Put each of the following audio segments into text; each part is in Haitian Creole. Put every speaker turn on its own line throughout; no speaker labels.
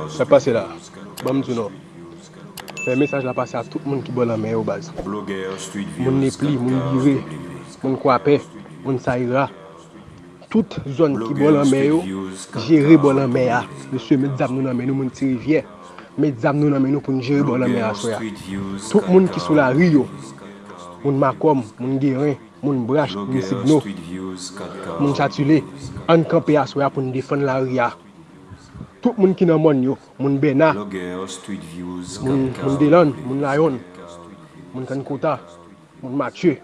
Sak pase la banm di w non fè mesaj la pase a tout moun ki bò lanmè yo baz moun nepli moun bire moun kwapè moun sayira tout zòn ki bò lanmè yo jere bò lanmè a mesye met zam nou nan men nou moun ti rivyè met zam nou nan men nou poun jere bò lanmè aswè a tout moun ki sou lari yo moun makòm moun geren. Moun brach moun signo moun chatule ann kanpe aswè a poun defann lari a tout moun ki nan mòn yo moun bèna moun delann moun layonn moun kann kota moun matye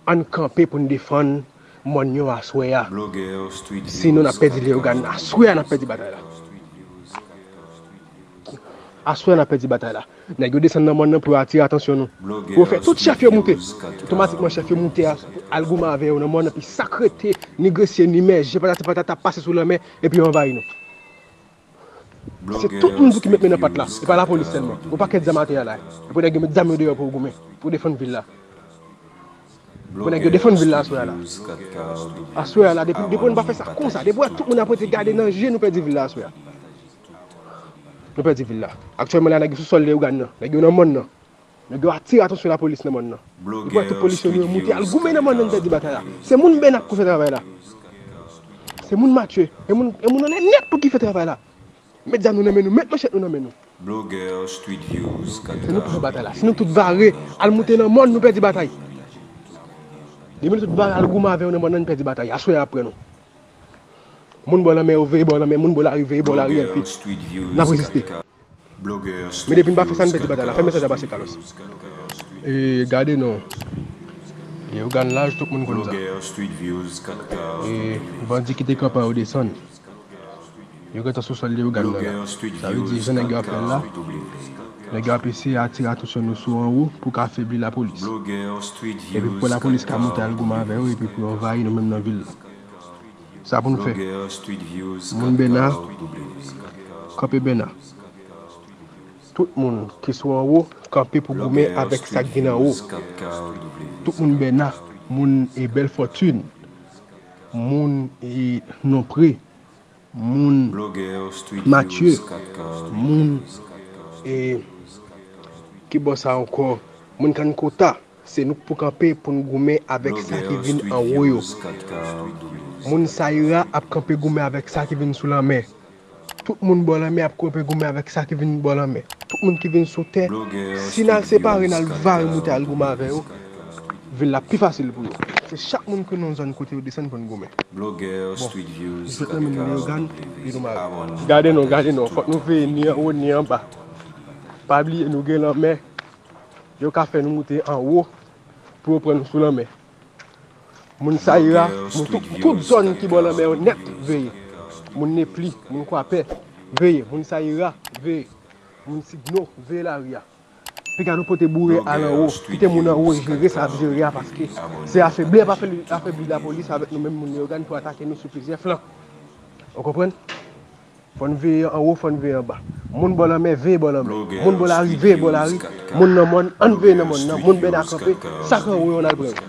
ann kanpe poun defann mòn yo aswè a si non nap pèdi leogane aswè a nap pèdi batay la aswè a nap pèdi batay la Nèg yo desann nan mòn nan pou yo atire atansyon nou. Pou yo fè tout chèf yo moute. Otomatikman chèf yo moute al goumen avè yo nan mòn nan pi sak rete ni gresye ni mèje patati patata ap pase sou lanmè epi yo anvayi nou. Se tout moun tou ki met men nan pat la. E pa lapolis sèlman. Yon pakèt zam atè a la. Epi nèg yo met zam yo deyò pou yo goumen. Pou yo defann vil la. Bon nèg yo defann vil la aswè a la. Aswè a la depi nou pa fè sa konsa. Depi nou wè tout moun ap rete gade nan je nou pèdi vil la aswè a. Nou pèdi vil la. Aktyèlman la nèg yo sou sòl Leyogàn nan. Nèg yo nan mòn nan. Nèg yo atire atansyon lapolis nan mòn nan. Nou pran tout polisye nou yo moute al goumen nan mòn nan nou pèdi batay la. Se moun Bènak pou fè travay la. Se moun Matye. E moun anlè nèt tou ki fè travay la. Met zam nou nan men nou. Met manchèt nou nan men nou. Se nou pou fè batay la. Si nou tout vare al moute nan mòn nou pèdi batay. Depi nou tout vare al goumen avè yo nan mòn nan nou pèdi batay. Aswè a ap pran nou. Moun bò lanmè yo veye bò lanmè moun bò lari veye bò lari LP nap reziste men depi n pa fè sa n pèdi batay la fè mesaj la pase Carlos. Eee gade non Eee ou gan laj tout moun konn sa Eee bandi ki te kanpe a yo desann Yo gentan sou sòl Leyogàn nan la Sa vle di jan nèg yo ap fè l la Nèg yo ap eseye atire atansyon nou sou anwo pou ka febli lapolis Epi pou lapolis ka monte al goumen avè yo epi pou yo anvayi nou menm nan vil la. Sa pou nou fè? Moun Bena, kanpe Bena. Tout moun ki sou anwo, kanpe pou goumen avèk sa k vin anwo. Tout moun Bena, moun Bèlfòtun, moun Nonpre, moun Mathieu moun e ki bò sa ankò moun kann kota se nou k pou kanpe pou n goumen avèk sa ki vin anwo yo moun sayira ap kanpe goumen avèk sa ki vin sou lanmè tout moun bò lanmè ap kanpe goumen avèk sa ki vin bò lanmè tout moun ki vin sou tè si n al separe n al vare moute al goumen avè yo vil la pi fasil pou yo. Se chak moun ki nan zòn kote yo desann pou n goumen. Bon, m sot nan menm Leyogàn, vil ou mare. Gade non, gade non, fòk nou veye ni anwo ni anba. Pa bliye nou gen lanmè, yo ka fè nou moute anwo pou yo pran nou sou lanmè. Moun Sayira, moun tout zòn ki bò lanmè yo nèt, veye. Moun Nepli, moun Kwapè, veye. Moun Sayira, veye. Moun Sidno, veye lari a. Piga nou pote boure al anwo, kite moun anwo jere sa ap jere a paske se afebli ap afebli lapolis avèk nou menm moun Leyogàn pou atake nou sou plizyè flan. Ou konprann? Fò n veye anwo, fò n veye anba. Moun bò lanmè, veye bò lanmè. Moun bò lari, veye bò lari. Moun nan mòn, an n veye nan mòn nan. Moun bèda kanpe, sa k anwo yo an n al pran yo.